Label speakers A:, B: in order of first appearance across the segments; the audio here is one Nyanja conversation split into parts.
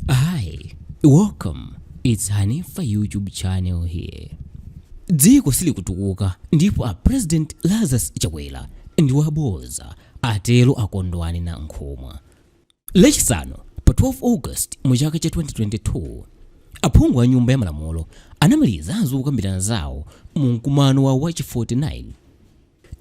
A: Hi, welcome. It's Hanifa YouTube channel here. Dziko silikutukuka ndipo a President Lazarus Chakwera ndi waboza atero a Kondwani Nankhumwa. Lachisanu pa 12 August mu chaka cha 2022 aphungu a nyumba ya malamulo anamaliza zokambirana zawo mu mkumano wa wachi 49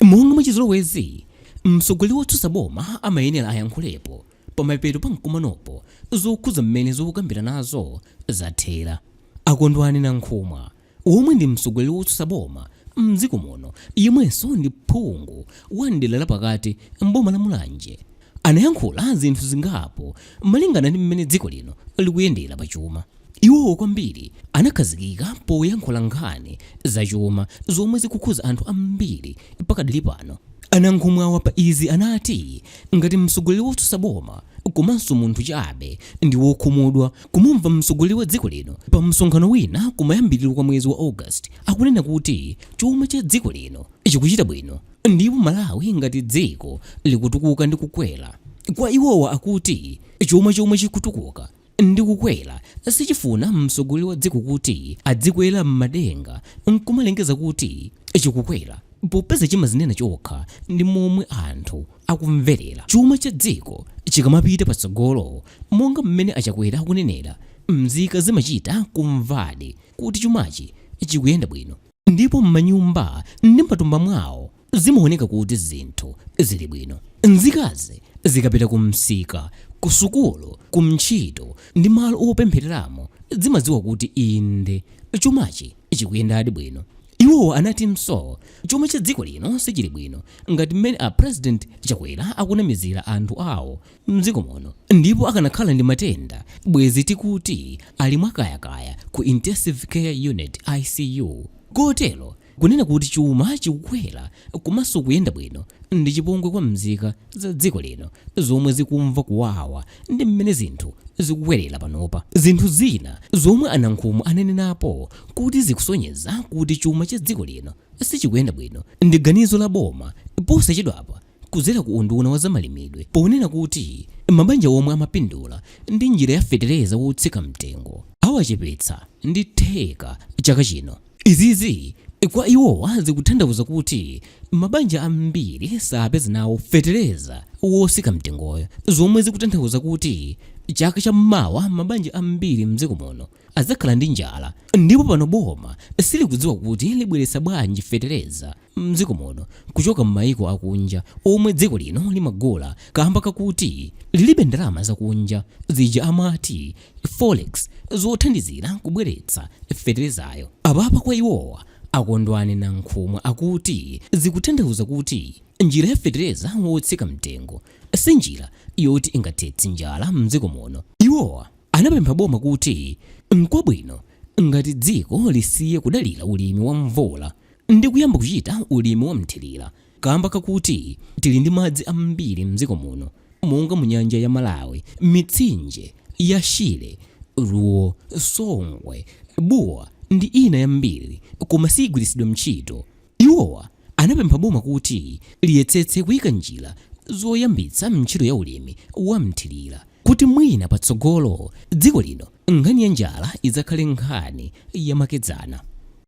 A: Monga mwachizolowezi, mtsogoleri wotsutsa boma amayenera ayankhulepo pamapeto pa mkumanopo zokhuza mmene zokukambiranazo zathera. A Kondwani Nankhumwa, omwe ndi mtsogoleri wotsutsa boma m'dziko muno yemwenso ndi phungu wa m'dera la pakati m'boma la Mulanje, anayankhula zinthu zingapo malingana ndi mmene dziko lino likuyendera pachuma. Iwowa kwambiri anakhazikika poyankhula nkhani za chuma zomwe zikukhuza anthu ambiri pakadali pano. A Nankhumwawa pa izi anati ngati mtsogoleri wotsutsa boma komanso munthu chabe, ndi wokhumudwa kumumva mtsogoleri wa dziko lino pa msonkhano wina kumayambiriro kwa mwezi wa August akunena kuti chuma cha dziko lino chikuchita bwino ndipo Malawi ngati dziko likutukuka ndi kukwera. Kwa iwowa akuti chuma chomwe chikutukuka ndi kukwera sichifuna mtsogoleri wa dziko kuti adzikwera m'madenga n'kumalengeza kuti chikukwera popeza chimazinena chokha ndi momwe anthu akumverera. Chuma cha dziko chikamapita patsogolo, monga mmene a Chakwera akunenera, mzika zimachita kumvadi kuti chumachi chikuyenda bwino. Ndipo m'manyumba ndi m'matumba mwawo zimaoneka kuti zinthu zili bwino. Mzikazi zikapita kumsika, kusukulu, kuntchito, ndi malo opemphereramo, zimadziwa kuti inde, chumachi chikuyendadi bwino. Iwo anatinso, chuma cha dziko lino sichili bwino ngati mmene a President Chakwera akunamizira anthu awo. mdziko muno ndipo akanakhala ndi matenda bwezi tikuti ali mwakayakaya ku intensive care unit, ICU, kotero kunena kuti chuma chikukwera komanso kuyenda bwino ndi chipongwe kwa mzika za dziko lino zomwe zikumva kuwawa ndi mmene zinthu zikukwerera panopa. Zinthu zina zomwe a Nankhumwa anenenapo kuti zikusonyeza kuti chuma cha dziko lino sichikuyenda bwino ndi ganizo la boma posachedwapa kudzera ku unduna wa zamalimidwe ponena kuti mabanja omwe amapindula ndi njira ya fetereza wotsika mtengo awachepetsa ndi theka chaka chino. Izizi kwa iwowa zikutanthauza kuti mabanja ambiri sapeza nawo fetereza wotsika mtengoyo zomwe zikutanthauza kuti chaka cha mmawa mabanja ambiri mdziko muno adzakhala ndi njala ndipo pano boma silikudziwa kuti libweretsa bwanji fetereza. mdziko muno kuchoka mmayiko akunja omwe dziko lino limagula kamba kakuti lilibe ndalama zakunja zija amati forex zothandizira kubweretsa feterezayo. Apapa kwa iwowa a Kondwani Nankhumwa akuti zikutanthauza kuti njira ya fetereza wotsika mtengo si njira yoti ingathetse njala mdziko muno. Iwowa anapempha boma kuti nkwabwino ngati dziko lisiye kudalira ulimi wa mvula ndi kuyamba kuchita ulimi wa mthirira kamba kakuti tili ndi madzi ambiri mdziko muno monga mu nyanja ya Malawi, mitsinje ya Shire, Ruo, Songwe, Bua ndi ina yambiri koma siigwiritsidwa mtchito. Iwowa anapempha boma kuti liyetsetse kuika njira zoyambitsa mtchito ya ulimi wa mthirira kuti mwina patsogolo dziko lino Nkhani ya njala idzakhale nkhani yamakedzana.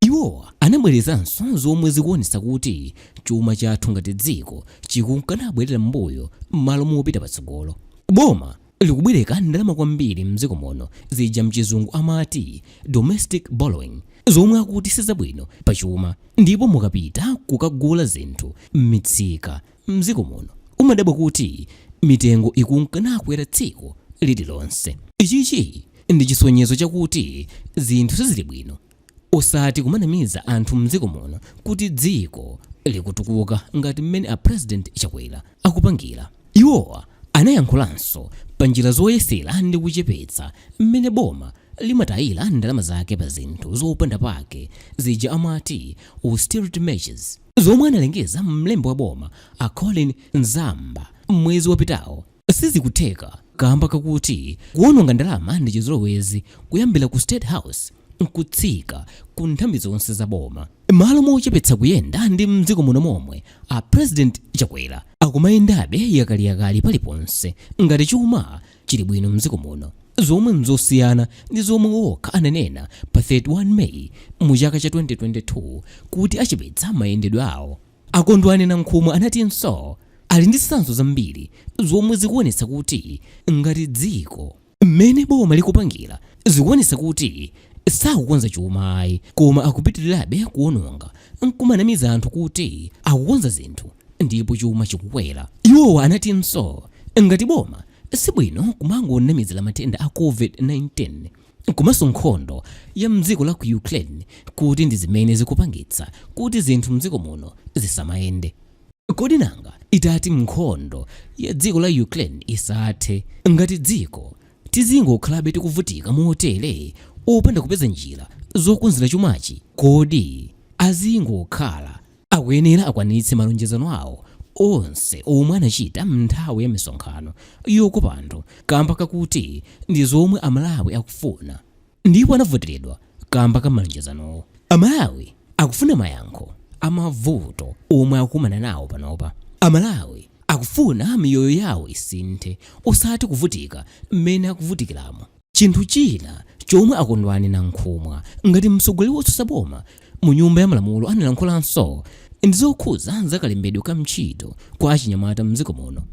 A: Iwo anabwerezanso zomwe zikuonetsa kuti chuma chathu ngati dziko chikunka nabwerera m'mbuyo m'malo mopita patsogolo. Boma likubwereka ndalama kwambiri m'dziko muno zija mchizungu amati domestic borrowing zomwe akuti sizabwino pachuma ndipo mukapita kukagula zinthu m'mitsika M'dziko muno umadabwa kuti mitengo ikunka nakwera tsiku lililonse. Ichichi ndi chisonyezo chakuti zinthu sizili bwino osati kumanamiza anthu m'dziko muno kuti dziko likutukuka ngati mmene a President Chakwera akupangira. Iwo anayankhulanso pa njira zoyesera ndi kuchepetsa mmene boma limatayira ndalama zake pa zinthu zopanda pake zija amati austerity measures. Zomwe analengeza mlembi wa boma a Colleen Zamba mwezi wapitawo sizikutheka kamba kakuti kuononga ndalama ndi chizolowezi kuyambira ku State House nkutsika ku nthambi zonse za boma. Mmalo mochepetsa kuyenda ndi mdziko muno momwe, a President Chakwera akumayendabe yakaliyakali paliponse ngati chuma chili bwino m'dziko muno, zomwe n'zosiyana ndi zomwe okha ananena pa 31 May mu chaka cha 2022 kuti achepetsa mayendedwe awo. A Kondwani Nankhumwa anatinso ali ndi zitsanzo zambiri zomwe zikuonetsa kuti ngati dziko, mmene boma likupangira zikuonetsa kuti sakukonza chuma ayi koma akupitirirabe kuononga n'kumanamiza anthu kuti akukonza zinthu ndipo chuma chikukwera. Iwowa anatinso ngati boma sibwino kumangonamizira matenda a Covid-19 komanso nkhondo ya mdziko la ku Ukraine kuti ndi zimene zikupangitsa kuti zinthu mdziko muno zisamayende. Kodi nanga itati nkhondo ya dziko la Ukraine isathe, ngati dziko tizingokhalabe tikuvutika motere opanda kupeza njira zokonzera chumachi? Kodi azingokhala Akuyenera akwanitse malonjezano awo onse omwe anachita m'nthawi ya misonkhano yokopa anthu kamba kakuti ndi zomwe a Malawi akufuna ndipo anavoteredwa kamba ka malonjezanowo. A Malawi akufuna mayankho a mavuto omwe akukumana nawo panopa. A Malawi akufuna miyoyo yawo isinthe osati kuvutika m'mene akuvutikiramu. Chinthu china chomwe a Kondwani Nankhumwa ngati mtsogoleri wotsutsa boma mu nyumba ya malamulo analankhulanso ndi zokhuza za kalembedwe ka mtchito kwa achinyamata mdziko muno.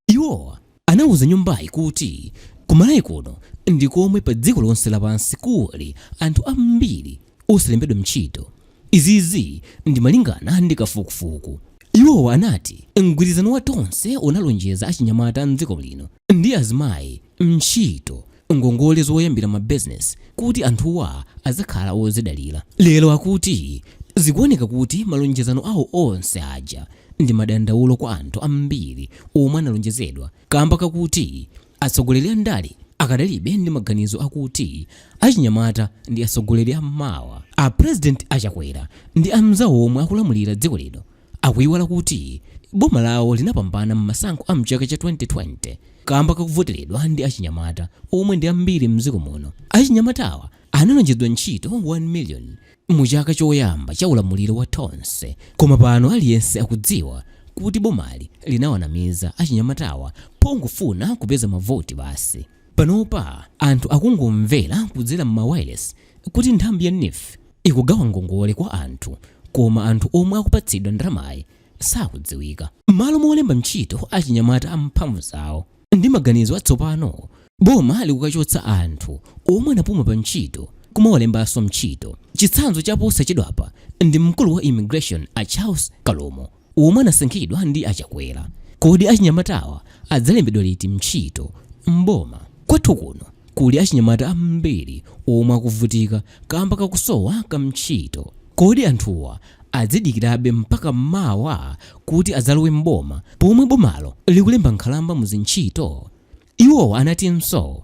A: Iwowa anauza nyumbayi kuti ku Malawi kuno ndi komwe pa dziko lonse lapansi kuli anthu ambiri osalembedwa mtchito. Izizi ndi malingana ndi kafukufuku. Iwowa anati mgwirizano wa Tonse unalonjeza achinyamata mdziko lino ndi azimayi ntchito ngongole zoyambira mabizinesi kuti anthuwa adzakhale ozidalira. Lero akuti zikuoneka kuti malonjezano awo onse aja ndi madandaulo kwa anthu ambiri omwe analonjezedwa kamba kakuti atsogoleri andale akadalibe ndi maganizo akuti achinyamata ndi atsogoleri a mmawa. A President a Chakwera ndi amzawo omwe akulamulira dziko lino akuiwala kuti boma lawo linapambana m'masankho a m'chaka cha 2020 kamba kakuvoteredwa ndi achinyamata omwe ndi ambiri m'dziko muno. Achinyamatawa analonjezedwa ntchito 1 million mu chaka choyamba cha ulamuliro wa Tonse koma pano aliyense akudziwa kuti bomali linawanamiza achinyamatawa pongofuna kupeza mavoti basi. Panopa anthu akungomvera kudzera m'mawayilesi kuti nthambi ya NEEF ikugawa ngongole kwa anthu koma anthu omwe akupatsidwa ndalamayi sakudziwika. M'malo molemba ntchito achinyamata a mphamvu zawo ndi maganizo atsopano, boma likukachotsa anthu omwe anapuma pa ntchito kumawalembanso mtchito. Chitsanzo cha posachedwapa ndi mkulu wa Immigration a Charles Kalumo. omwe anasankhidwa ndi a Chakwera. Kodi achinyamatawa adzalembedwa liti mtchito m'boma? Kwathu kuno kuli achinyamata ambiri omwe akuvutika kamba kakusowa ka mtchito. Kodi anthuwa adzidikirabe mpaka mawa kuti adzalowe m'boma pomwe bomalo likulemba nkhalamba mu zintchito? Iwowa anatinso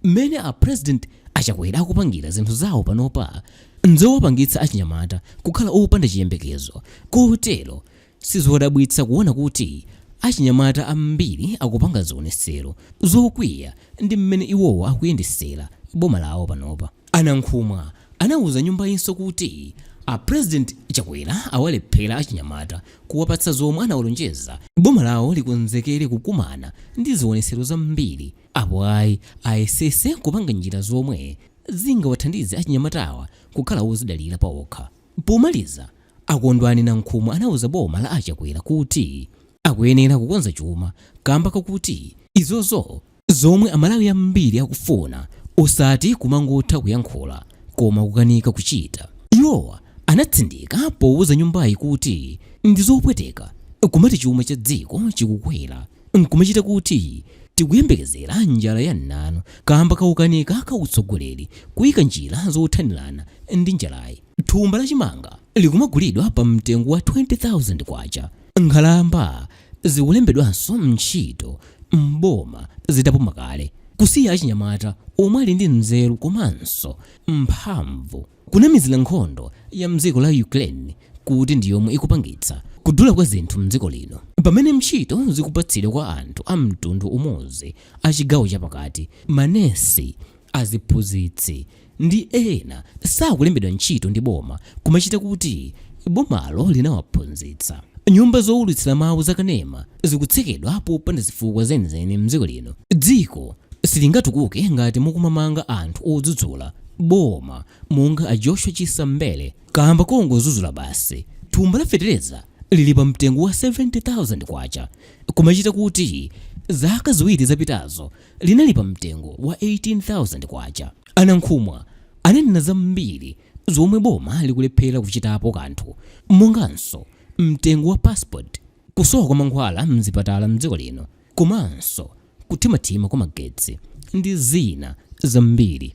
A: mmene a President a Chakwera akupangira zinthu zawo panopa nzowapangitsa achinyamata kukhala opanda chiyembekezo kotero sizodabwitsa kuona kuti achinyamata ambiri akupanga zionesero zokwiya ndi mmene iwowa akuyendesera boma lawo panopa. A Nankhumwa anauza nyumbayinso kuti a President Chakwera awalephera achinyamata kuwapatsa zomwe anawalonjeza, boma lawo likonzekere kukumana ndi zionetsero zambiri apo ayi ayesetse kupanga njira zomwe zingawathandize achinyamatawa kukhala ozidalira paokha. Pomaliza, a Kondwani Nankhumwa anauza boma la a Chakwera kuti akuyenera kukonza chuma kamba kakuti izozo Zomwe amalawi ambiri akufuna osati kumangotha kuyankhula koma kukanika kuchita. Iwowa anatsindika powuza nyumbayi kuti ndizopweteka kumati chuma cha dziko chikukwera nkumachita kuti tikuyembekezera njala ya mnanu kaamba kaukanika ka utsogoleri kuyika njira zothanirana ndi njalayi. Thumba la chimanga likumagulidwa pa mtengo wa K20,000, nkhalamba zikulembedwanso ntchito m'boma zitapuma kale kusiya achinyamata omwe ali ndi nzeru komanso mphamvu kunamizira nkhondo ya mdziko la Ukraine kuti ndi yomwe ikupangitsa kudula kwa zinthu mdziko lino pamene ntchito zikupatsidwa kwa anthu a mtundu umodzi a chigawo chapakati, manesi, aziphunzitsi, ndi ena sakulembedwa ntchito ndi boma kumachita kuti bomalo linawaphunzitsa. Nyumba zowulutsira mawu za kanema zikutsekedwa popanda zifukwa zenizeni mdziko lino. Dziko silingatukuke ngati mukumamanga anthu odzudzula boma monga a Joshua Chisa Mbele kaamba kongozudzula basi. Thumba la fetereza lili pa mtengo wa K70,000 kumachita kuti zaka ziwiri zapitazo linali pa mtengo wa K18,000. A Nankhumwa ananena zambiri zomwe boma likulephera kuchitapo kanthu monganso mtengo wa passport, kusowa kwa mankhwala mzipatala mdziko lino komanso kuthimathima kwa magetsi ndi zina zambiri.